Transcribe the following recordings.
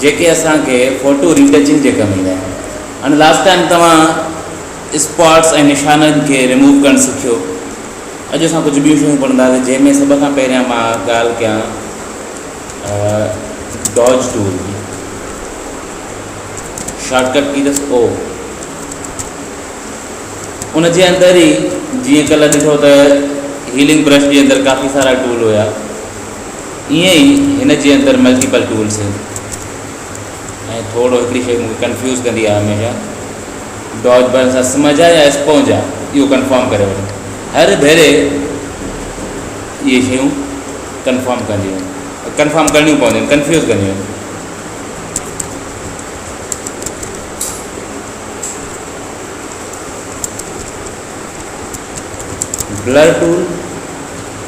جيڪي اسان کي فوٽو ري ٽچنگ جي ڪم ايندا آهن هاڻي لاسٽ ٽائيم توهان اسپاٽس ۽ نشانن کي ريموو ڪرڻ سکيو اڄ اسان ڪجهه ٻيون شيون پڙهنداسين جنهن ۾ سڀ کان پهريان مان ڳالهه ڪيان ڊاج ٽول جي شارٽ ڪٽ ڪي اٿس او ان جي اندر ئي جيئن ڪلهه ڏٺو ته هيلنگ برش جي اندر ڪافي سارا ٽول هيا ائين ئي هن جي اندر ملٽيپل ٽولس آهن ۽ ٿورو هڪڙي شيء مونکي ڪنفيوز ڪندي آهي هميشه ڊاج بنس اسمج آهي يا اسپونج آهي اهو ڪنفرم ڪري وٺ هر ڀيري اهي شيون ڪنفرم ڪنديون آهن ڪنفرم ڪرڻيون پونديون آهن ڪنفيوز ڪنديون آهن بلر ٽول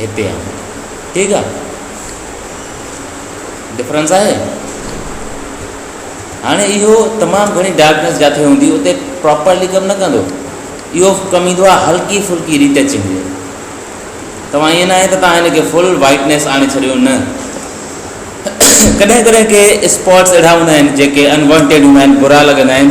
هتي آهن ٺيڪ آ ڊفرنس آهي هاڻي اهو تمام گهڻي ڊارڪنس جاٿي هوندي اتي پراپرلي ڪم نه ڪندو اهو ڪم ايندو آ هلڪي ڦلڪي ريٽچنگ جي توهان ائين نه آهي ته توهان هن کي فل وائٽنس آڻي ڇڏيو نه ڪڏهن ڪڏهن ڪي اسپاٽس اهڙا هوندا آهن جيڪي انوانٽيڊ هوندا آهن برا لڳندا آهن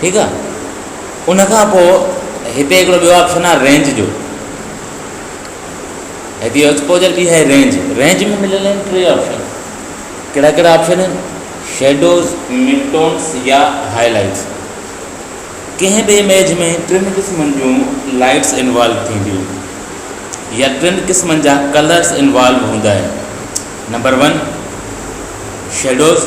ٺيڪ آ ان کان پو هتي هڪڙو ٻيو آپشن آ رينج جو هتي ايڪسپوجر ٻي آهي رينج رينج ۾ مليل آهن ٽي آپشن ڪهڙا ڪهڙا آپشن آهن شيڊوز مڊٽونس يا هاء لائٽس ڪنهن به اميج ۾ ٽن قسمن جون لائٽس انوالو ٿينديون يا ٽن قسمن جا ڪلرس انوالو هوندا آهن نمبر ون شيڊوز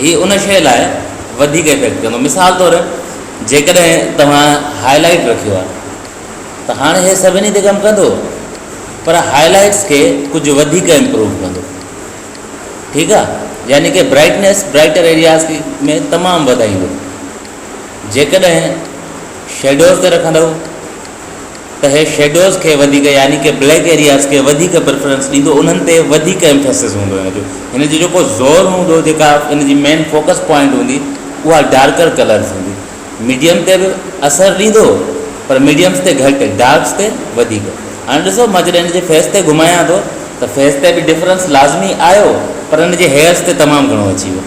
هي ان شيء لاء وڌيڪ افيڪٽ ڪندو. مثال طور جيڪڏهن توهان هاء لائيٽ رکيو آهي ته هاڻي هي سڀني تي ڪم ڪندو پر هاء لائيٽس کي ڪجهه وڌيڪ امپروو ڪندو ٺيڪ آهي يعني ڪي برائٽنيس برائٽر ايرياز ۾ تمام وڌائيندو جيڪڏهن شيڊوز تي رکندو اهي شيڊوز کي وڌيڪ يعني ڪي بليڪ ايرياز کي وڌيڪ پريفرنس ڏيندو انهن تي وڌيڪ ايمفيسز هوندو هن جو هن جو جيڪو زور هوندو جيڪا هن جي مين فوڪس پوائنٽ هوندي اها ڊارڪر ڪلرز هوندي ميڊيم تي به اثر ڏيندو پر ميڊيمز تي گهٽ ڊارڪس تي وڌيڪ هاڻي ڏسو مان جڏهن هن جي فيس تي گهمايان ٿو ته فيس تي به ڊفرنس لازمي آيو پر هن جي هيئرز تي تمام گهڻو اچي ويو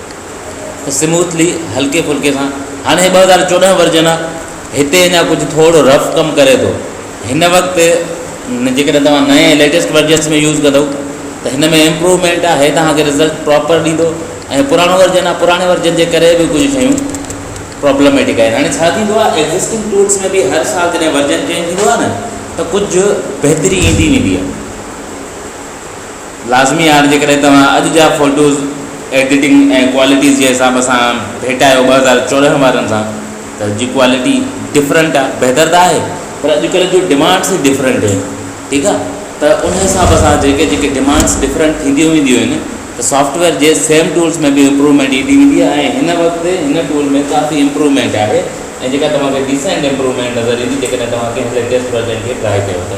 سموٿلي هلڪي ڦلڪي سان هاڻي ٻه هزار چوڏهن ورجن آ هتي اڃا ڪجهه ٿورو رف ڪم ڪري ٿو هن وقت جيڪڏهن توهان نئين ليٽيسٽ ورجنس ۾ يوز ڪندو ته هن ۾ امپروومينٽ آ هي توهانکي رزلٽ پراپر ڏيندو ۽ پراڻو ورجن آ پراڻي ورجن جي ڪري به ڪجهه شيون پرابلميٽڪ آهن هاڻي ڇا ٿيندو آ ايگزسٽنگ ٽولس ۾ به هر سال جڏهن ورجن چينج ٿيندو آ نه ته ڪجهه بهتري ايندي ويندي آ لازمي آهر جيڪڏهن توهان اڄ جا فوٽوز ايڊيٽنگ ۽ ڪوالٽيز جي حساب سان ڀيٽايو ٻه هزار چوڏهن وارن سان ته جي ڪوالٽي ڊفرنٽ آهي بهتر ته آهي پر اڄ ڪلهه جون ڊمانڊس ئي ڊفرنٽ آهن ٺيڪ آهي ته ان حساب سان جيڪي جيڪي ڊمانڊس ڊفرنٽ ٿينديون وينديون آهن ته سافٽويئر جي سيم ٽولس ۾ به امپروومينٽ ايندي ويندي آهي ۽ هن وقت هن ٽول ۾ ڪافي امپروومينٽ آهي ۽ جيڪا توهان کي ڊيسينٽ امپروومينٽ نظر ايندي جيڪڏهن توهان ڪنهن ليٽيسٽ ورجن کي ٽرائي ڪيو ته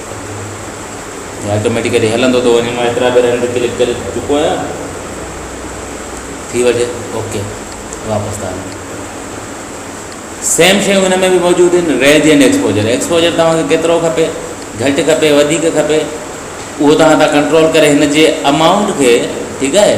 ۾ آٽوميٽيڪلي هلندو ٿو وڃي مان ايترا ڀيرا هن تي ڪلڪ ڪري چڪو آهيان ٿي وجه اوڪي واپس ٿا وڃو سيم شيون هن ۾ به موجود آهن ريج اينڊ ايڪسپوجر ايڪسپوجر توهانکي کيترو کپي گهٽ کپي وڌيڪ کپي اهو توهان ٿا ڪنٽرول ڪري هن جي امائونٽ کي ٺيڪ آهي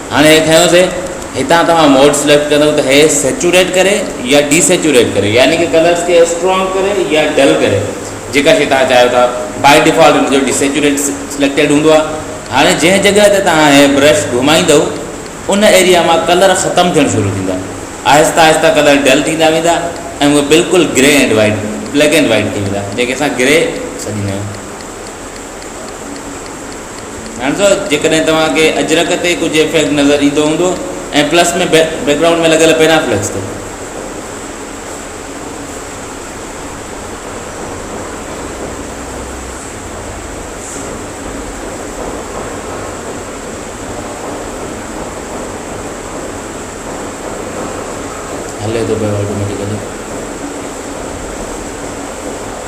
هاڻي هي کنيوسي هتان توهان موڊ سليڪٽ ڪندو ته هي سيچوريٽ ڪري يا ڊي سيچوريٽ ڪري يعني ڪي ڪلرس کي اسٽرانگ ڪري يا ڊل ڪري جيڪا شي توهان چاهيو ٿا بائي ڊيفالٽ ان جو ڊي سيچوريٽ سليڪٽيڊ هوندو آهي هاڻي جنهن جڳهه تي توهان هي برش گهمائيندو ان ايريا مان ڪلر ختم ٿيڻ شروع ٿيندا آهستي آهستي ڪلر ڊل ٿيندا ويندا ۽ اهي بلڪل grey and white black and white ٿي ويندا جنهن کي اسان گري سڏيندا آهيون ڌيان ڏيو جيڪڏهن توهان کي اجرڪ تي ڪجهه افيڪٽ نظر ايندو هوندو ۽ پلس ۾ بيڪ گرائونڊ ۾ لڳل پيرافليڪس تي هلي ٿو پيو آٽوميٽڪلي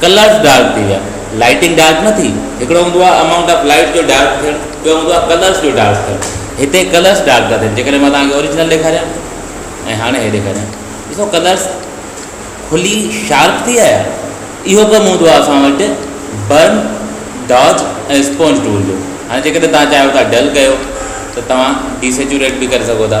ڪلرز ڊارڪ ٿي ويا، لائٽنگ ڊارڪ نه ٿي، هڪڙو هوندو آهي امائونٽ آف لائٽ جو ڊارڪ ٿيڻ، ٻيو هوندو آهي ڪلرز جو ڊارڪ ٿيڻ، هتي ڪلرز ڊارڪ ٿا ٿين، جيڪڏهن مان توهانکي اوريجنل ڏيکاريان ۽ هاڻي هي ڏيکاريان، ڏسو ڪلرز کلي شارپ ٿي آيا، اهو ڪم هوندو آهي اسان وٽ برن، ڊاج ۽ اسپونج ٽول جو، هاڻي جيڪڏهن توهان چاهيو ٿا ڊل ڪيو ته توهان ڊي سيچوريٽ به ڪري سگهو ٿا.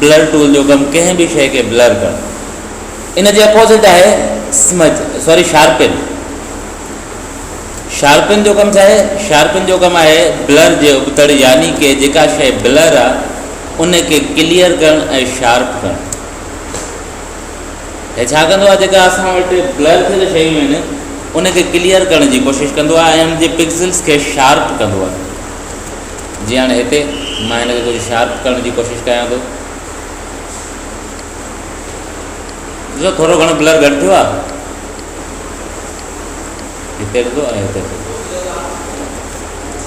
بلر ٽول جو ڪم ڪنهن به شيء کي بلر ڪرڻ ان جي اپوزٽ آهي اسمج سوري شارپن شارپن جو ڪم ڇا آهي شارپن جو ڪم آهي بلر جي ابتڙ يعني ڪي جيڪا شيء بلر آهي ان کي ڪليئر ڪرڻ ۽ شارپ ڪرڻ هي ڇا ڪندو آهي جيڪا اسان وٽ بلر ٿيل شيون آهن ان کي ڪليئر ڪرڻ جي ڪوشش ڪندو آهي ۽ ان جي پڪسلس کي شارپ ڪندو آهي جي هاڻي هتي مان هن کي ڪجهه شارپ ڪرڻ جي ڪوشش ڪيان ٿو ڏسو ٿورو گھڻو بلر گھٽ ٿيو آ هتي ڏسو ۽ هتي ڏسو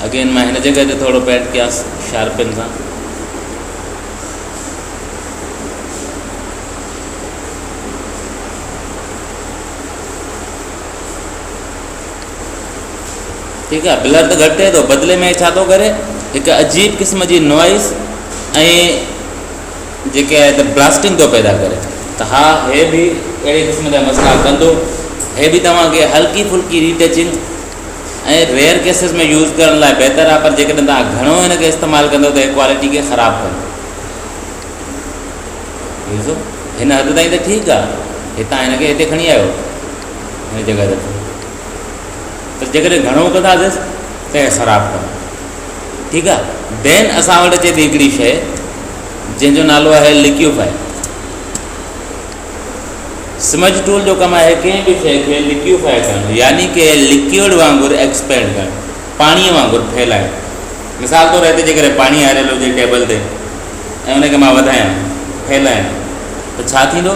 اگين مان هن جگہ تي ٿورو پينٽ ڪياس شارپن سان ٺيڪ آ بلر ته گهٽ ٿئي ٿو بدلي ۾ ڇا ٿو ڪري هڪ عجيب قسم جي نوائز ۽ جيڪي آهي ته بلاسٽنگ ٿو پيدا ڪري ته ها هي بي اهڙي قسم جا مسئلا ڪندو هي بي توهانکي هلڪي ڦلڪي retouching ۽ rare cases ۾ use ڪرڻ لاء بهتر آهي پر جيڪڏهن توهان گهڻو هن کي استعمال ڪندو ته هي ڪوالٽي کي خراب ڪندو ڏسو هن حد تائين ته ٺيڪ آهي هتان هن کي هتي کڻي آيو هن جڳهه تي ته جيڪڏهن گهڻو ڪنداسين ته خراب ڪندو ٺيڪ آ دين اسا وٽ اچي ٿي هڪڙي شيء جنهن جو نالو آهي ليڪيوفائي سمج ٽول جو ڪم آهي ڪنهن به شيء کي ليڪيوفائي ڪرڻ يعني ڪي ليڪيوڊ وانگر ايڪسپينڊ ڪرڻ پاڻي وانگر ڦهلائڻ مثال طور هتي جيڪڏهن پاڻي آريل هجي ٽيبل تي ۽ ان کي مان وڌايان ڦهلايان ته ڇا ٿيندو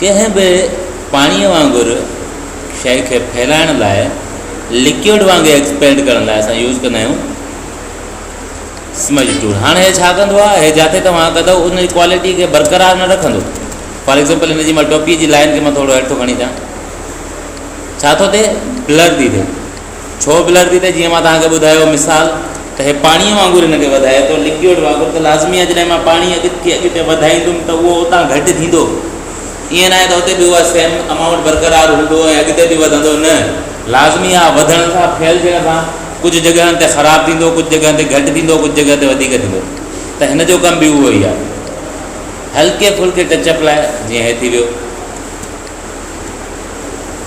ڪنهن به پاڻيء وانگر شيء کي ڦهلائڻ لاء لڪيوڊ وانگر ايڪسپيلڊ ڪرڻ لاء اسان يوز ڪندا آهيون سمج ٽول هاڻي هي ڇا ڪندو آهي هي جاٿي توهان ڪندو ان جي ڪوالٽي کي برقرار نه رکندو فار ايگزامپل هن جي مال ٽوپي جي لائن کي مان ٿورو هيٺو کڻي ٿا ڇا ٿو ٿئي بلر ٿي ٿئي ڇو بلر ٿي ٿئي جيئن مان توهان کي ٻڌايو مثال ته هي پاڻيء وانگر هن کي وڌائي ٿو لڪوئڊ وانگر ته لازمي آهي جڏهن مان پاڻي اڳتي اڳتي وڌائيندم ته اهو اتان گهٽ ٿيندو ائين ناهي ته اتي به اها سيم امائونٽ برقرار هوندو ۽ اڳتي به وڌندو نه لازمي آهي وڌڻ سان ڦهل ٿيڻ سان ڪجهه جڳهن تي خراب ٿيندو ڪجهه جڳهن تي گهٽ ٿيندو ڪجهه جڳهن تي وڌيڪ ٿيندو ته هن جو ڪم به اهو ئي آهي هلڪي ڦلڪي ٽچ اپ لاء جيئن هي ٿي ويو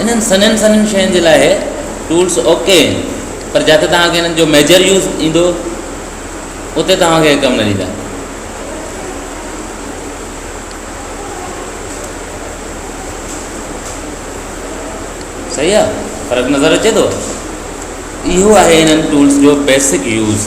انهن سنهين سنهين شين جي لاء ٽولس اوڪي آهن پر جتي توهان کي انهن جو ميجر يوز ايندو اتي توهان کي ڪم نه ڏيندا صحيح آ فرق نظر اچي ٿو اهو آهي انهن ٽولس جو بيسڪ يوز